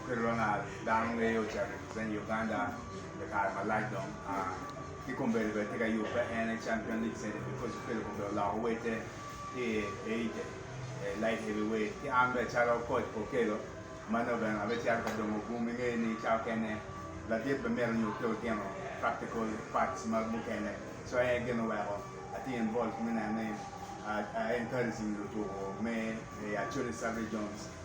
Oketo dong aa dano ngeye ocako i Lusenya, Uganda pi kare malac dong. Ki kombeddi bene tye ka yubbe en aye Champion League Center because oketo kombeddi oloko wete ki i Asia, Light Heavyweight. Ki an bene calo Coach Okello ma nongo bene abecito ka dongo bum ingeye ni cawa kene ladit bene myero onyut ki lutino practical parts ma mukene. So en aye gin oweko atye involved me neno ni a encouraging lutuku me Acholi Sub-Regions.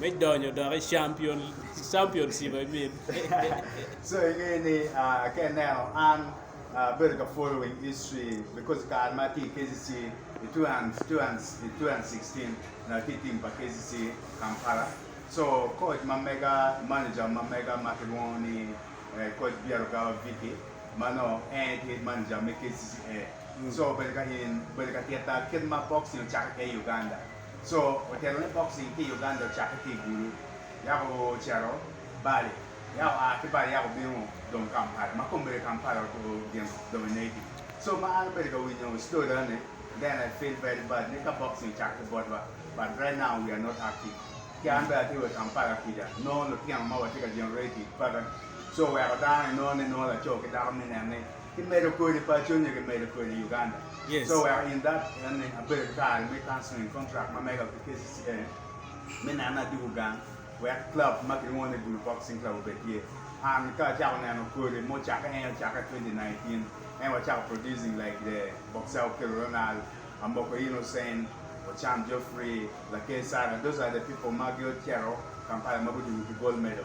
me donyo dok i championship aye mit so inge ni ka ineno an abedo ka following history because kare ma atye i KCC i 2016 onongo atye i team pa KCC Kampala so coach ma mega manager ma mega ma kilwongo ni coach Byarugaba Vicky ma nongo en aye tye manager me KCCA so obedo ka titta kit ma boxing ocakki kede i Uganda Co otelo ni boxing ki i Uganda ocakke ki i Gulu, yako ocito Bali, yako oa ki Bali yako obino dong Kampala, ma kong obedo i Kampala obyino dong i Naivi. So ma an abedo ka winyo story eni, then I feel very bad ni ka boxing ocakke ki botwa, but right now we are not active. Ki an bene atye wa i Kampala kica, nongo lutino ma watye ka byino rate peke, so weko dano inongo ni nongo laco ki dako mine ni, kimedo kodi paco nyo kimedo kodi Uganda. Yes. So wek in that ene abedo ki kare me cancelling contract ma mega ki KCCA me neno ni adwogo gang wek club ma kilwongo ni Gulu Boxing Club obed tye. An ka acako neno kodi ma ocakke en ocakke 2019 en wacako producing like the boxer Okello Ronald, Amoko Innocent, Ochan Geoffrey, Lakay Sara those are the people ma gicito Kampala ma gudwogo ki gold medal.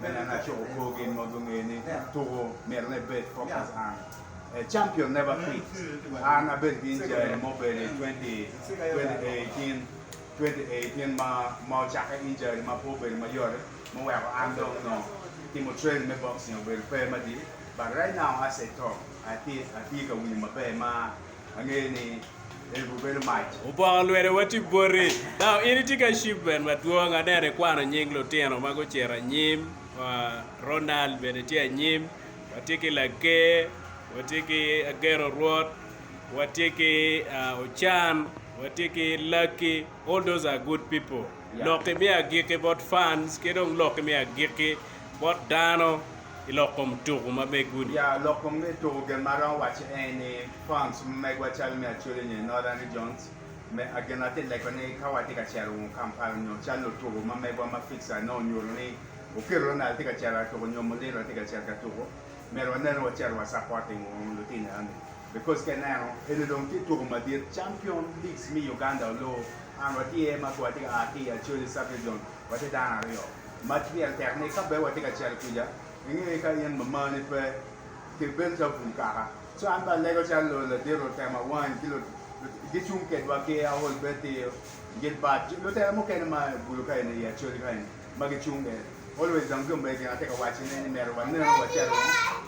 Me neno acok obwo gin ma gungeyo ni tuko myero ne bed focus an a champion never quit an abedo ki injury mo bedo i 2018 2018 ma ma ocakke injury ma pe obedo ma yote ma oweko an dong nongo timo training me boxing obedo pe madit but right now as a talk atye atye ka winyo maber ma angeyo ni Ebu bedo mac. Opoko lwete wa tye boti. Now in itye ki achievement madwong, aneno ikwano nying lutino ma gucito anyim, Ronald bene tye anyim, watye ki Laker, watye ki Ageno Rwot, watye ki Ocan, watye ki Lucky, all those are good people. Lok imi agikki bot fans ki dong lok imi agikki bot dano. ki lok kom tuku ma bene gudi. Ya, lok kom me tuku gin ma aromo waco aye ni, Franz, ma megwa calo me Acholi nyo Norah Regions, me a gin atye leko ni ka watye ka cito wun Kampala nyo cal lutuku ma megwa ma Fixer nongo onyuto ni oketo Ronald tye ka cito ka tuku nyo Muliro tye ka cito ka tuku, myero wanen ni wacito wa supporting wun lutino enoni because ka ineno eni dong tye tuku madit, Champion Leagues me Uganda olor and watye ma pe watye ka a ki i Acholi Sub-Region Watye dano aryo. Mac myel tek ni ka bene watye ka cito kuca, inge ka in ma mani pe, ki bed calo bul kaka. So an bene alego calo lo ladit otema wany ki lo, gicung kedwa ki aol bed ti gin bat lutela mukene ma bulu ka eni i acholi ka eni ma gicung bene. Always dong jo mege gin atye ka waci ne ni mito wanenu wacito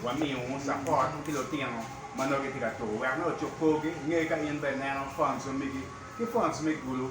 wamiu support ki lutino ma nongo gitye ka tur wek nongo ocuk kor gi, inge ka in bene ineno phones ma migi ki phones me gulu.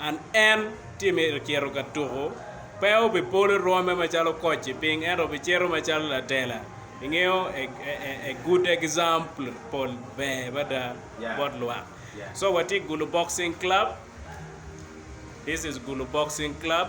An en, Timmy ocito ka tuko. Pe obipolo rwome macalo coach i piny ento obicito macalo latela. Ingeyo, a good example ber mada bot lwak. So watye i Gulu Boxing Club, this is Gulu Boxing Club.